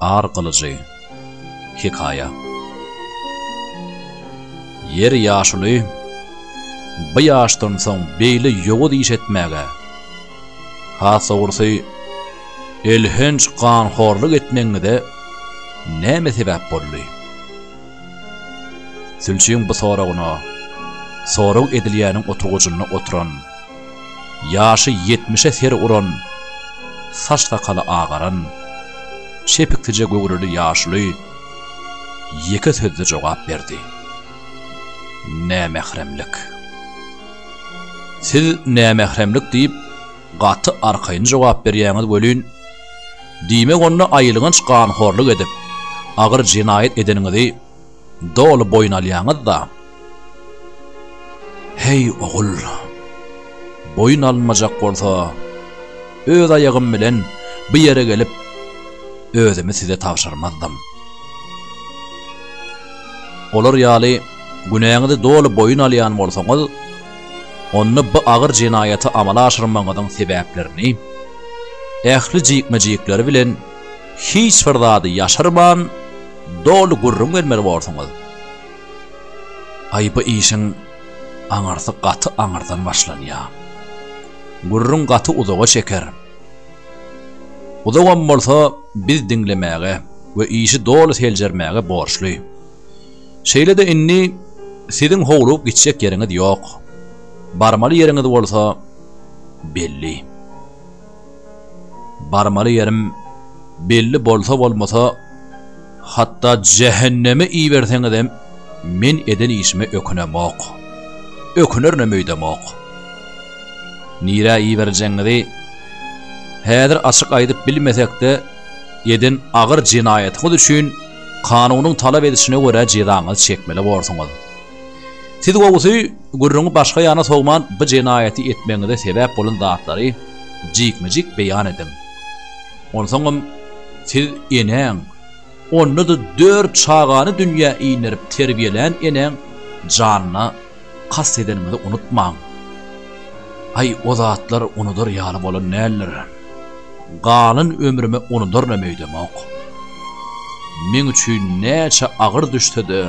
Ar gylyjy. Hekaýa. Ýer ýaşuly, bu ýaşdan soň beýle ýowuz iş etmäge, has dogrusy, elhenç ganhorlyk etmegiňize näme sebäp boldy? Sülçüň bu soragyna sorag edilýäniň oturgyjynda oturan Ýaşy ýetmişe ser uran, saç-sakaly agaran, çepiksije göwreli ýaşuly ýeke sözde jogap berdi. Nämähremlik. Siz nämähremlik diýip, gaty arkaýyn jogap berýäňiz welin, diýmek onda aýylganç ganhorlyk edip, agyr jenaýat edeniňizi, doly boýun alýaňyz-da. Heý, ogul, boýun alynmajak bolsa, öz aýagym bilen bu ýere gelip, özümi size tabşyrmazdym. Olar ýaly günäňizi doly boýun alýan bolsaňyz, onda bu agyr jenaýaty amala aşyrmagyňyzyň sebäplerini, ähli jikme-jikleri bilen Hiç bir zady ýaşyrman, doly gürrüň bermeli borsuňyz. Aý, bu işiň aňyrsy gaty aňyrdan başlanýar. Gürrüň gaty uzaga çeker. Uzagam bolsa, biz diňlemäge we işi doly seljermäge borçly. Şeýle-de indi siziň howlugyp gitjek ýeriňiz ýok. Barmaly ýeriňiz bolsa belli. Barmaly ýerim belli bolsa-bolmasa, hatda jähenneme iberseňizem, men eden işime ökünemok. Ökünerinem öýdemok. Nirä iberjegiňizi häzir açyk aýdyp bilmesek-de, eden agyr jenaýatyňyz üçin kanunyň talap edişine görä jezaňyzy çekmeli borsuňyz. Siz gowusy, gürrüňi başga ýana sowman bu jenaýaty etmegiňize sebäp bolan zatlary jikme-jik beýan ediň. Onsoňam siz enäň, onda-da dört çagany dünýä inderip terbiýelän enäň janyna kast edeniňizi unutmaň. Aý, o zatlar unudar ýaly bolan däldir. Galan ömrüme unudarynam öýdemok. Meň üçin näçe agyr düşse-de,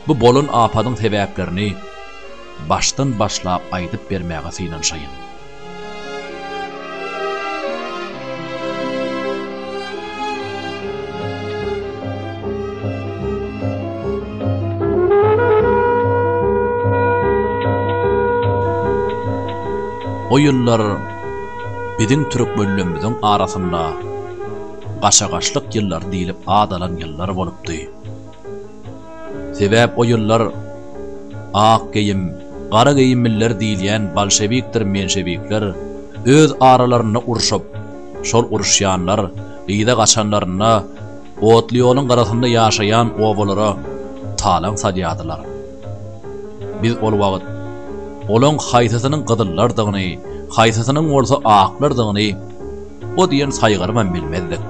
Bu bolan apadyň sebäplerini başdan başlap aýdyp bermäge synanyşaýyn. O ýyllar biziň türkmenlemmiziň arasynda gaşagaşlyk ýyllary diýlip ad alan ýyllar bolupdy. Sebäp o ýyllar ak geýim, gara geýimliler diýilýän bolşewikdir menşewikler öz aralarynda urşup, şol uruşýanlar yza gaçanlarynda otly ýoluň gyrasynda ýaşaýan obalara talaň salýardylar. Biz ol wagt olaň haýsysynyň gyzyllardygyny, haýsysynyň bolsa aklardygyny O diýen saýgarybam bilmezdik.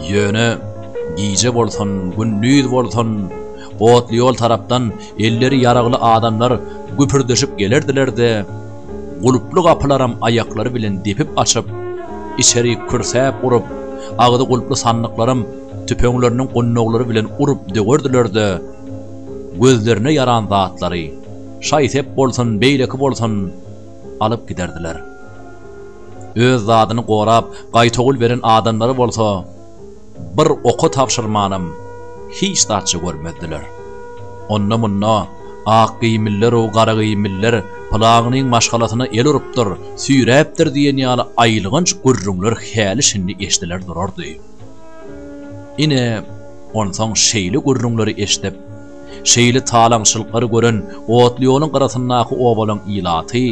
Ýöne, gije bolsun, gündiz bolsun, otly ýol tarapdan elleri ýaragly adamlar güpürdeşip gelerdiler-de, gulply gapylaram aýaklary bilen depip açyp, içeri kürsäp urup, agzy gulply sandyklaram tüpeňleriniň gundaglary bilen urup döwerdiler-de, gözlerine ýaran zatlary, şaý-sep bolsun, beýleki bolsun, alyp giderdiler. Öz zadyny gorap, gaýtawul beren adamlary bolsa bir oka tabşyrmanam hiç zatça görmezdiler. Onda-munda Akgeýimliler-ow Garageýimliler pylagynyň maşgalasyna el urupdyr, süýräpdir diýen ýaly aýylganç gürrüňler häli-şindi eşdiler durardy. Ine, onsoň şeýle gürrüňleri eşdip, Şeýle talaňçylyklary gören otly ýoluň gyrasyndaky obalaň ilaty,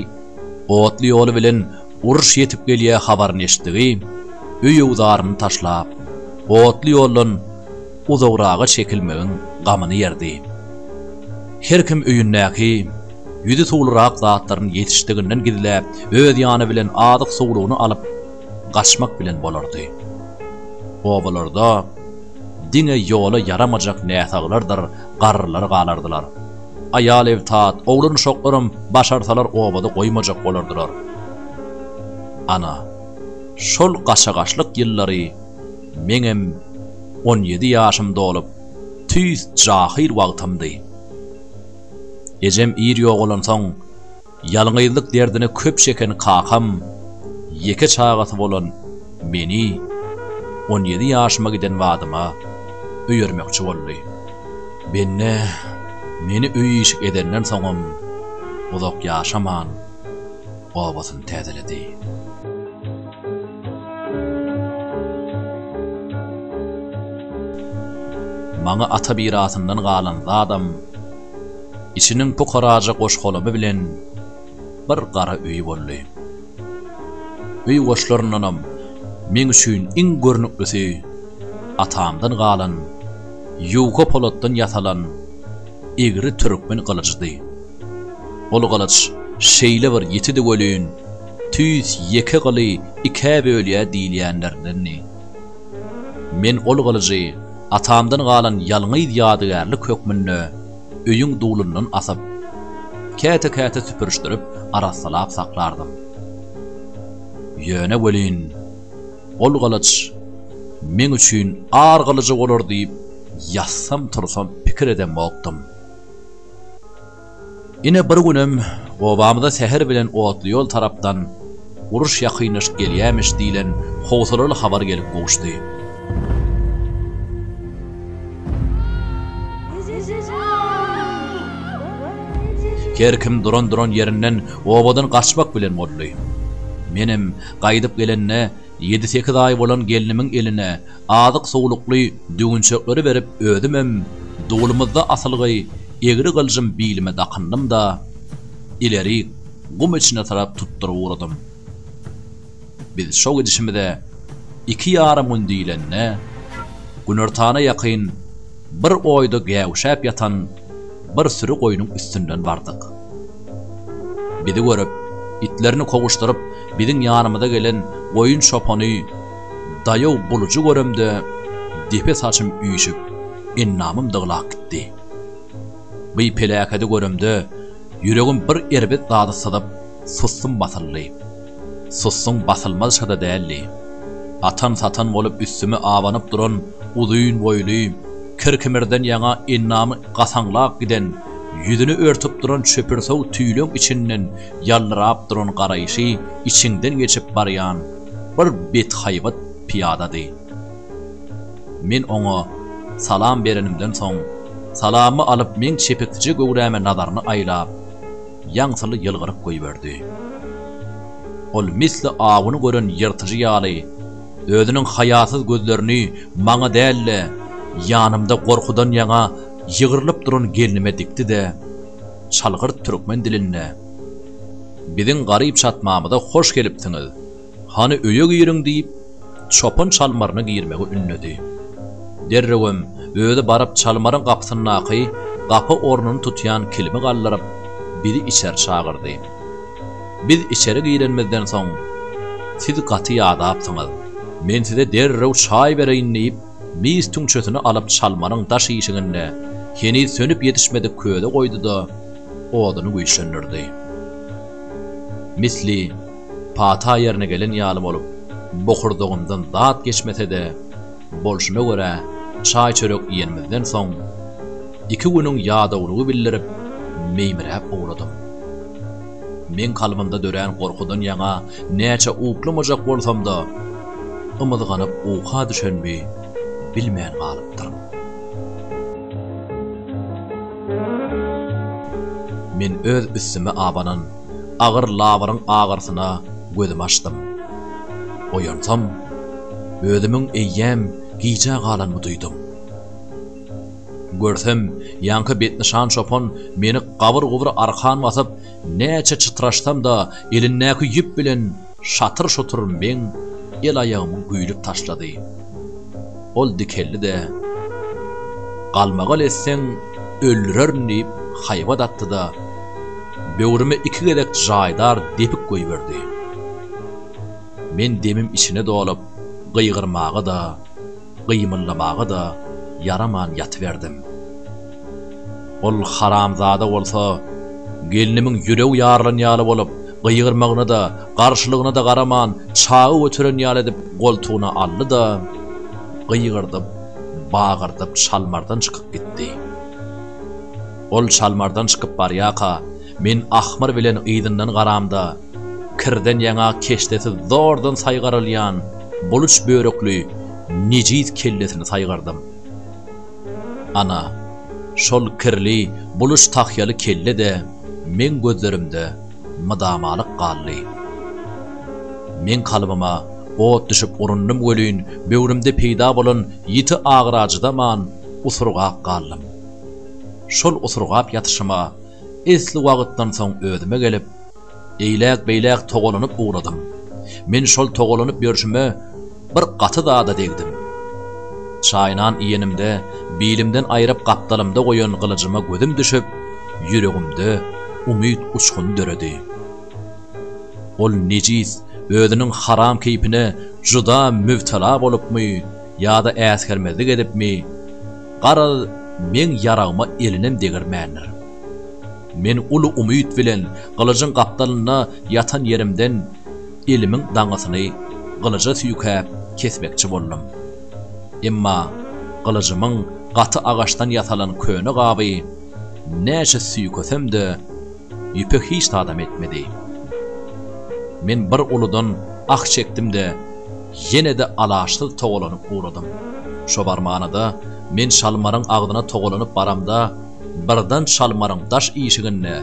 otly ýoly bilen uruş ýetip gelýä habaryny eşitdigi, öýüwzaryny taşlap, otly ýoldan uzagraga çekilmegiň gamyny ýerdi. Her kim öýündäki, ýüzi suwlurak zatlaryny ýetişdiginden gizläp, öz ýany bilen azyk-suwlugyny alyp, gaçmak bilen bolardy. Obalarda. Diňe ýola ýaramajak näsaglardyr garrylar galardylar. Aýal ebtat, oglan uşaklaram başarsalar obada goýmajak bolardylar. Ana, şol gaçagaçlyk ýyllary meňem on ýedi ýaşym dolup, tüýs jahyl wagtymdy. Ejem ir ýogalansoň. Ýalňyzlyk derdini köp çeken kakam ýeke çagasy bolan meni on ýedi ýaşyma giden badyma öýermekçi boldy. Bende meni öý-işik edenden soňam uzak ýaşaman, obasyny täzeledi. Maňa ata mirasyndan galan zadam Içiniň pukaraja goş-golamy bilen bir gara öýi boldy. Öý goşlaryndanam meň üçin iň görnüklisi atamdan galan ýuka polatdan ýasalan egri türkmen gylyjydy. Ol gylyç şeýle bir ýitidi welin, tüýs ýeke gyly ikä bölýär diýilýänlerindendi. Men ol gylyjy. Atamdan galan ýalňyz ýadygärlik hökmünde öýüň dulundan asyp, käte-käte süpürişdirip arassalap saklardym. Ýöne welin, ol gylyç meň üçin ar gylyjy bolar diýip ýatsam-tursam pikir edemokdym. Ine bir günem obamyza säher bilen otly ýol tarapdan Uruş ýakynlaşyp gelýämiş diýlen howsalaly habar gelip gowuşdy. Her kim duran-duran ýerinden obadan gaçmak bilen boldy. Menem gaýdyp gelende ýedi-sekiz aý bolan gelnimiň eline azyk-suwlukly düwünçekleri berip özümem dulumyzda asylgy egri gylyjym bilime dakyndym-da, ilerik gum içine tarap tutduryp ugradym. Biz şo gidişimize iki ýarym gün diýlende, günortana ýakyn bir oýda gäwüşäp ýatan bir süri goýnuň üstünden bardyk. Bizi görüp, itlerini kowuşdyryp biziň ýanymyza gelen goýun çopany, Daýaw bulujy göremde depe saçym üýşüp, endamym dyglap gitdi. By peläkedi göremde ýüregim bir erbet zady syzyp, sussum basyldy. Sussuň basylmazça-da däldi. Atan-satan bolup üstüme abanyp duran uzyn boýly, kir-kimirden ýaňa endamy gasaňlap giden, ýüzüni örtüp duran çöpürsow tüýleň içinden ýaldyrap duran garaýşy içiňden geçip barýan, bir bethaýbat pyýadady. Men oňa salam berenimden soň, salamy alyp meň çepeksije göwräme nazaryny aýlap, ýaňsyly ýylgyryp goýberdi. Ol misli awyny gören ýyrtyjy ýaly, özüniň haýasyz gözlerini maňa däl-de, ýanymda gorkudan ýaňa ýygrylyp duran gelnime dikdi-de, çalgyrt türkmen dilinde. Biziň garyp çatmamyza hoş gelipsiňiz. Hany öýe giriň, diýip, çopan çalmaryna girmegi ündedi. Derrewem özi baryp çalmaryň gapysyndaky gapa ornuny tutýan kilimi galdyryp, bizi içeri çagyrdy. Biz içeri girenimizden soň, Siz gaty ýadapsyňyz. Men size derrew çaý bereýin, diýip, Mis tüňçesini alyp çalmanyň daş işiginde heniz sönüp ýetişmedik köze goýdy-da, oduny güýçlendirdi. Misli pata ýerine gelen ýaly bolup, bokurdagymdan zat geçmese-de, bolşuna görä, çaý-çörek iýenimizden soň, iki günüň ýadawlygy bildirip, meýmiräp ugradym. Meň kalbymda dörän gorkudan ýaňa näçe uklamajak bolsam-da, ymyzganyp uka düşenimi bilmän galypdyryn. Men öz üstüme abanan agyr labyryň agyrysyna gözümi açdym. Oýansam, özümiň eýýäm gijä galanymy duýdum. Görsem, ýaňky betnyşan çopan meni gabyr-gubur arkan basyp, näçe çytraşsam-da, elindäki ýüp bilen şatyr-şutur meň el-aýagymy güýlüp taşlady. Ol dikeldi-de, Galmagal etseň, öldürerin diýip, haýbat atdy-da, böwrüme iki gezek jaýdar depik goýberdi. Men demim içine dolup, gygyrmaga-da. gymyldamaga-da ýaraman ýatyberdim. Ol haramzada bolsa gelnimiň ýüregi ýarylan ýaly bolup, gygyrmagyna-da, garşylygyna-da garaman, çagy göteren ýaly edip goltugyna aldy-da, gygyrdyp, bagyrdyp çalmardan çykyp gitdi. Ol çalmardan çykyp barýarka, men ahmyr bilen yzyndan garamda, Kirden ýaňa keşdesi zordan saýgarylýan buluç börekli nejis kellesini saýgardym. Ana, şol kirli, buluç tahýaly kelle-de meň gözlerimde mydamalyk galdy. Meň kalbyma ot düşüp urundym welin, böwrümde peýda bolan ýiti agyra çydaman, usurgap galdym. Şol usurgap ýatyşyma Esli wagtdan soň özüme gelip, eýläk-beýläk togalanyp ugradym. Men şol togalanyp ýörşüme bir gaty zada degdim. Çaýnan iýenimde, bilimden aýryp gapdalymda goýan gylyjyma gözüm düşüp, ýüregimde umyt uçguny döredi. Ol nejis özüniň haram keýpine juda mübtela bolupmy ýa-da äsgermezlik edipmi? Garaz, meň ýaragyma elinem degirmändir. Men uly umyt bilen gylyjyň gapdalynda ýatan ýerimden elimiň daňysyny gylyja süýkäp kesmekçi boldum. Emma gylyjymyň gaty agaçdan ýasalan köne gaby näçe süýkesem-de, Ýüpek hiç zadam etmedi. Men bir uludan ah çekdim-de, ýene-de alaçsyz togalanyp ugradym. Şo barmana-da, men Çalmaryň agzyna togalanyp baramda, birden Çalmaryň daş işiginde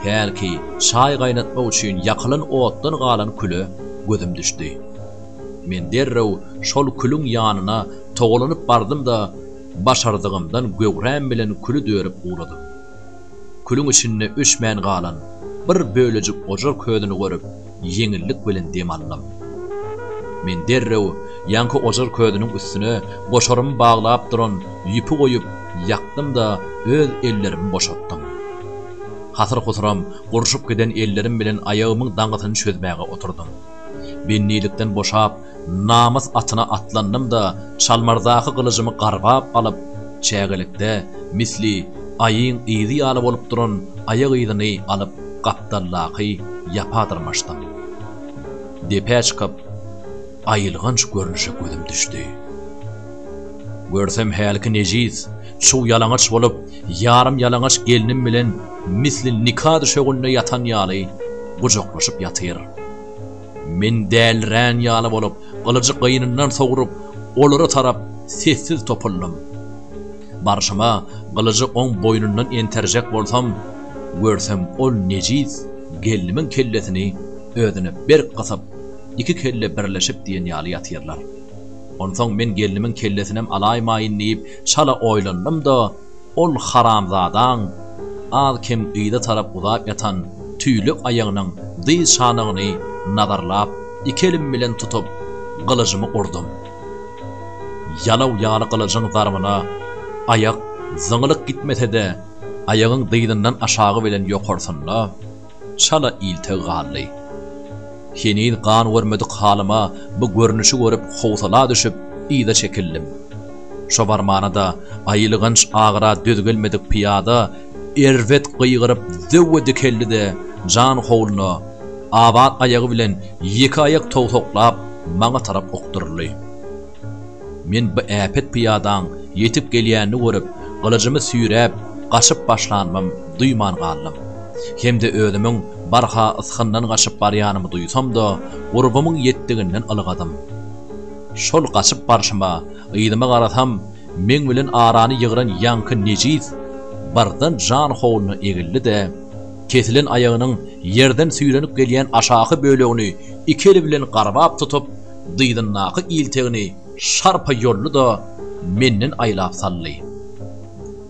hälki çaý gaýnatmak üçin ýakylan otdan galan küle gözüm düşdi. Men derrew şol külüň ýanyna togalanyp bardym-da, başardygymdan göwräm bilen küli dörüp ugradym. Külüň içinde öçmän galan bir bölejik ojar közüni görüp, ýeňillik bilen dem aldym. Men derrew ýaňky ojar közüniň üstüne goşarymy baglap duran ýüpi goýup, ýakdym-da, öz ellerimi boşatdym. Hasyr-husuram gurşup giden ellerim bilen aýagymyň daňysyny çözmäge oturdym. Bendilikden boşap, namys atyna atlandym-da, çalmardaky gylyjymy garbap alyp, çägelikde, misli, aýyň yzy ýaly bolup duran aýak yzyny alyp, gapdaldaky ýapa dyrmaşdym. Depä çykyp, aýylganç görnüşe gözüm düşdi. Görsem hälki nejis, çuw ýalaňaç bolup, ýarym ýalaňaç gelnim bilen misli nika düşeginde ýatan ýaly gujaklaşyp ýatyr. Men dälirän ýaly bolup, gylyjy gynyndan sogrup, olara tarap sessiz topuldym. Barşyma, gylyjy oň boýnundan enterjek bolsam, görsem ol nejis gelnimiň kellesini özüne berk gysyp, iki kelle birleşip diýen ýaly ýatyrlar. Onsoň men gelnimiň kellesinem alaýmaýyn diýip, çala oýlandym-da, Ol haramzadaň az-kem yza tarap uzap ýatan tüýlek aýagynyň dyz çanagyny nazarlap, iki elim bilen tutup, gylyjymy urdum. Ýalaw ýaly gylyjyň zarbyna aýak zyňylyk gitmese-de, aýagyň dyzyndan aşagy bilen ýokarsynda, Çala iltek galdy. Heniz gan görmedik halyma bu görnüşi görüp howsala düşüp, yza çekildim. Şo barmana-da aýylganç agyra döz gelmedik pyýada erbet gygyryp zöwwe dikeldi-de, jan howluna, abat aýagy bilen ýeke aýak towsaklap, maňa tarap okduryldy. Men bu äpet pyýadaň ýetip gelýänini görüp, gylyjymy süýräp, gaçyp başlanymam duýman galdym. Hem-de özümiň barha ysgyndan gaçyp barýanymy duýsam-da, gurbumyň ýetdiginden ylgadym. Şol gaçyp barşyma, yzyma garasam, meň bilen arany ýygran ýaňky nejis birden jan howluna egildi-de, kesilen aýagynyň ýerden süýrenip gelýän aşaky bölegini iki eli bilen garbap tutup, dyzyndaky iltegini şarpa ýoldy-da, menden aýlap saldy.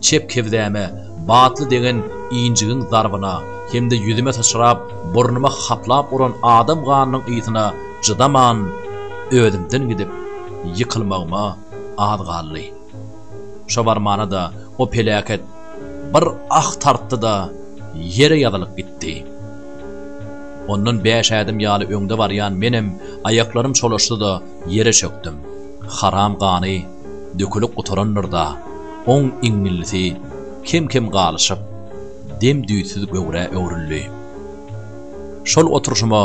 Çep kebzäme batly degen injigiň zarbyna hem-de ýüzüme syçrap, burnuma haplap uran adam ganynyň ysyna çydaman, özümden gidip, ýykylmagyma az galdy. Şo barmana-da o peläket bir ah tartdy-da, ýere ýazylyp gitdi. Ondan bäş ädim ýaly öňde barýan menem aýaklarym çolaşdy-da, ýere çökdüm. Haram gany dökülip gutarandyr-da, oň iňňillisi kem-kem galyşyp, dem-düýtsüz göwrä öwrüldi. Şol oturyşyma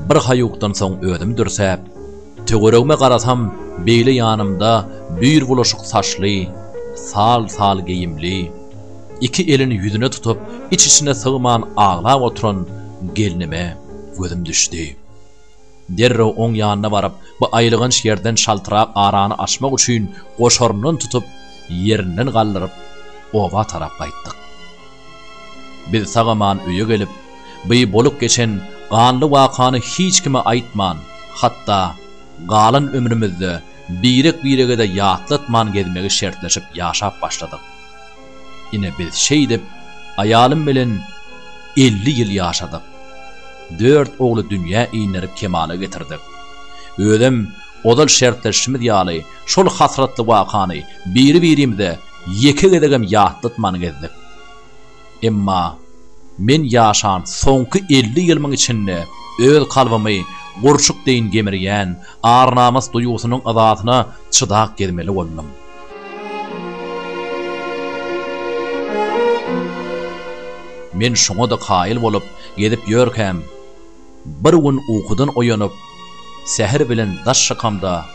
birhaýukdan soň özüm dürsäp. Töweregime garasam, beýle ýanymda büýr bulaşyk saçly, sal-sal geýimli, iki elini ýüzüne tutup, iç-içine sygman aglap oturan gelnime gözüm düşdi. Derrew oň ýanyna baryp, bu aýylganç ýerden şaltyrak arany açmak üçin goşaryndan tutup, ýerinden galdyryp, oba tarap gaýtdyk. Biz sag-aman öýe gelip, By bolup geçen ganly wakany hiç kime aýtman, hatda galan ömrümizde birek-birege-de ýatlatman gezmegi şertleşip ýaşap başladyk. Ine biz şeýdip aýalym bilen elli ýyl ýaşadyk. Dört ogly dünýä inderip kemala getirdik. Özem ozal şertleşişimiz ýaly şol hasratly wakany biri-birimize ýeke gezegem ýatlatman gezdik. Emma men ýaşan soňky elli ýylymyň içinde öz kalbymy gurçuk deýin gemirýän ar-namys duýgusynyň yzasyna çydap gezmeli boldum. Men şoňa-da kaýyl bolup gezip ýörkäm. Bir gün ukudan oýanyp, säher bilen daş şakamda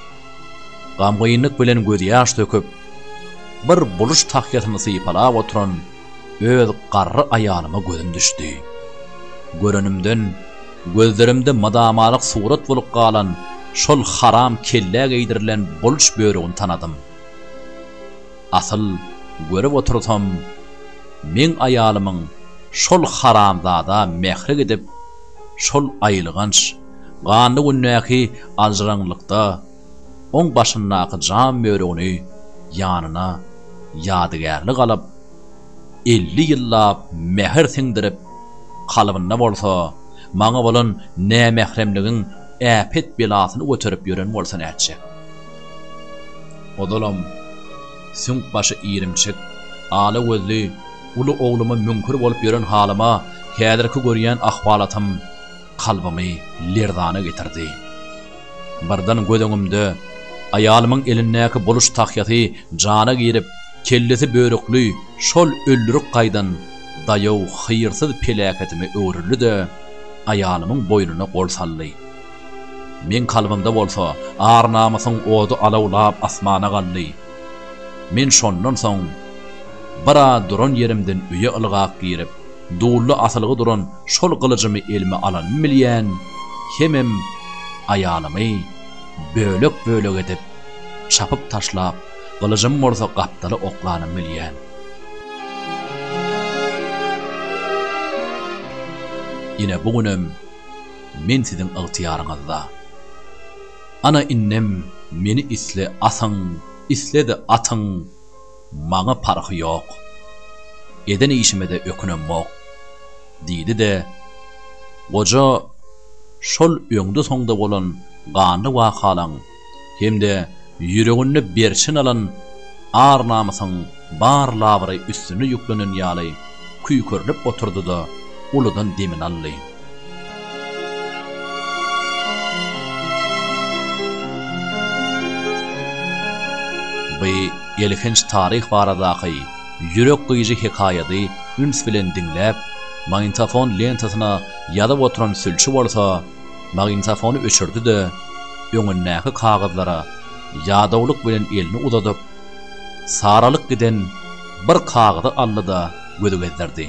gamgynlyk bilen gözýaş döküp, bir buluş tahýasyny sypalap oturan öz garry aýalyma gözüm düşdi. Görenimden, gözlerimde mydamalyk surat bolup galan şol haram kellä geýdirilen buluş bölügini tanadym. Asyl, görüp otursam, meň aýalymyň şol haramzada mähri gidip, şol aýylganç, ganly gündäki aljyraňlykda oň başyndaky jam börügini ýanyna ýadygärlik alyp, elli ýyllap mähir siňdirip, kalbynda bolsa maňa bolan nämähremligiň äpet belasyny göterip ýören bolsa nätjek? Ozalam, süňk başy irimçik, ala gözli, uly ogluma müňkür bolup ýören halyma häzirki görýän ahwalatym kalbymy lerzana getirdi. Birden göz öňümde aýalymyň elindäki boluş tahýasy jana girip, kellesi börükli şol öldürik gaýdan daýaw hyýrsyz peläketime öwrüldi-de, aýalymyň boýnuna gol saldy. Meň kalbymda bolsa ar-namysyň ody alawlap asmana galdy. Men şondan soň biraz duran ýerimden öýe ylgap girip, dully asylgy duran şol gylyjymy elime alanym bilýän, hemem aýalymy bölek-bölek edip, çapyp taşlap, gylyjymy bolsa gapdala oklanym bilýän. Ine bu günem. men siziň ygtyýaryňyzda. Ana indem meni isle asyň, isle-de atyň, maňa parhy ýok. Eden işime-de ökünemok, diýdi-de, goja şol öňde-soňda bolan ganly wakalaň hem-de ýüreginde berçin alan ar-namysyň bar labyry üstüne ýüklenen ýaly küýkürdip oturdy-da, uludan demini aldy. Bu elhenç taryh baradaky ýürek gyýyjy hekaýady üns bilen diňläp, magnitofon lentasyna ýazyp oturan sülçi bolsa, Magnitofony öçürdi-de, öňündäki kagyzlara ýadawlyk bilen elini uzadyp, saralyp giden bir kagyzy aldy-da, göz gezdirdi.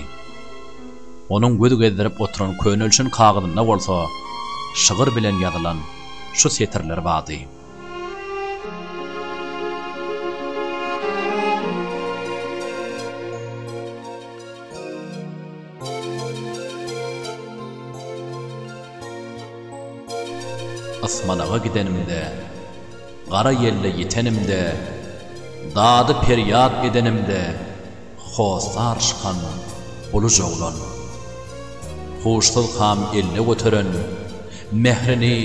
Onuň göz gezdirip oturan könelşen kagyzynda bolsa şygyr bilen ýazylan şu setirler bardy. Ysmanaga gidenimde, gara ýelle ýitenimde, dady-perýat edenimde hossar çykan buluj oglan. Huşsuz kam elle göteren, mährini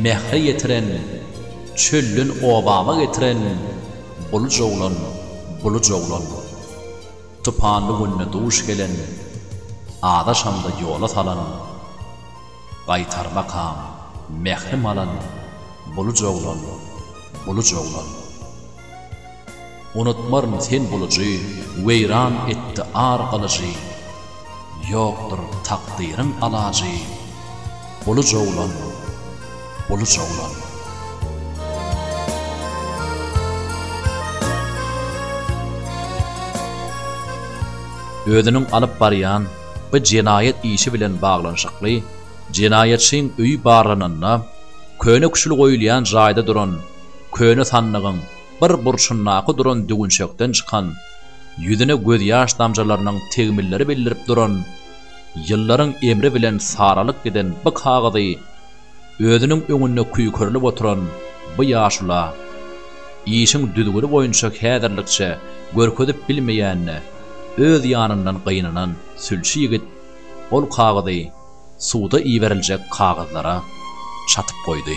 mähre ýetiren, çölden obama getiren buluj oglan, buluj oglan. Tupanly günde duş gelen, Azaşamda ýola salan, Gaýtarmakam mährim alan, Buluj oglan, buluj oglan. Unutmaryn sen bulujy, Weýran etdi ar gylyjy. Ýokdur takdyryň alajy, Buluj oglan, buluj oglan. Özüniň alyp barýan bu jenaýat işi bilen baglanyşykly jenaýatçyň öýi barlananda, köne küşül goýulýan jaýda duran köne sandygyň bir burçundaky duran düwünçekden çykan, ýüzüne gözýaş damjalarynyň tegmilleri bildirip duran, ýyllaryň emri bilen saralyp giden bu kagyzy özüniň öňünde küýkerilip oturan bu ýaşula, işiň düzgüni boýunça häzirlikçe görkezip bilmeýänine öz ýanyndan gynanan sülçi ýigit ol kagyzy suwda iberiljek kagyzlara çatyp goýdy.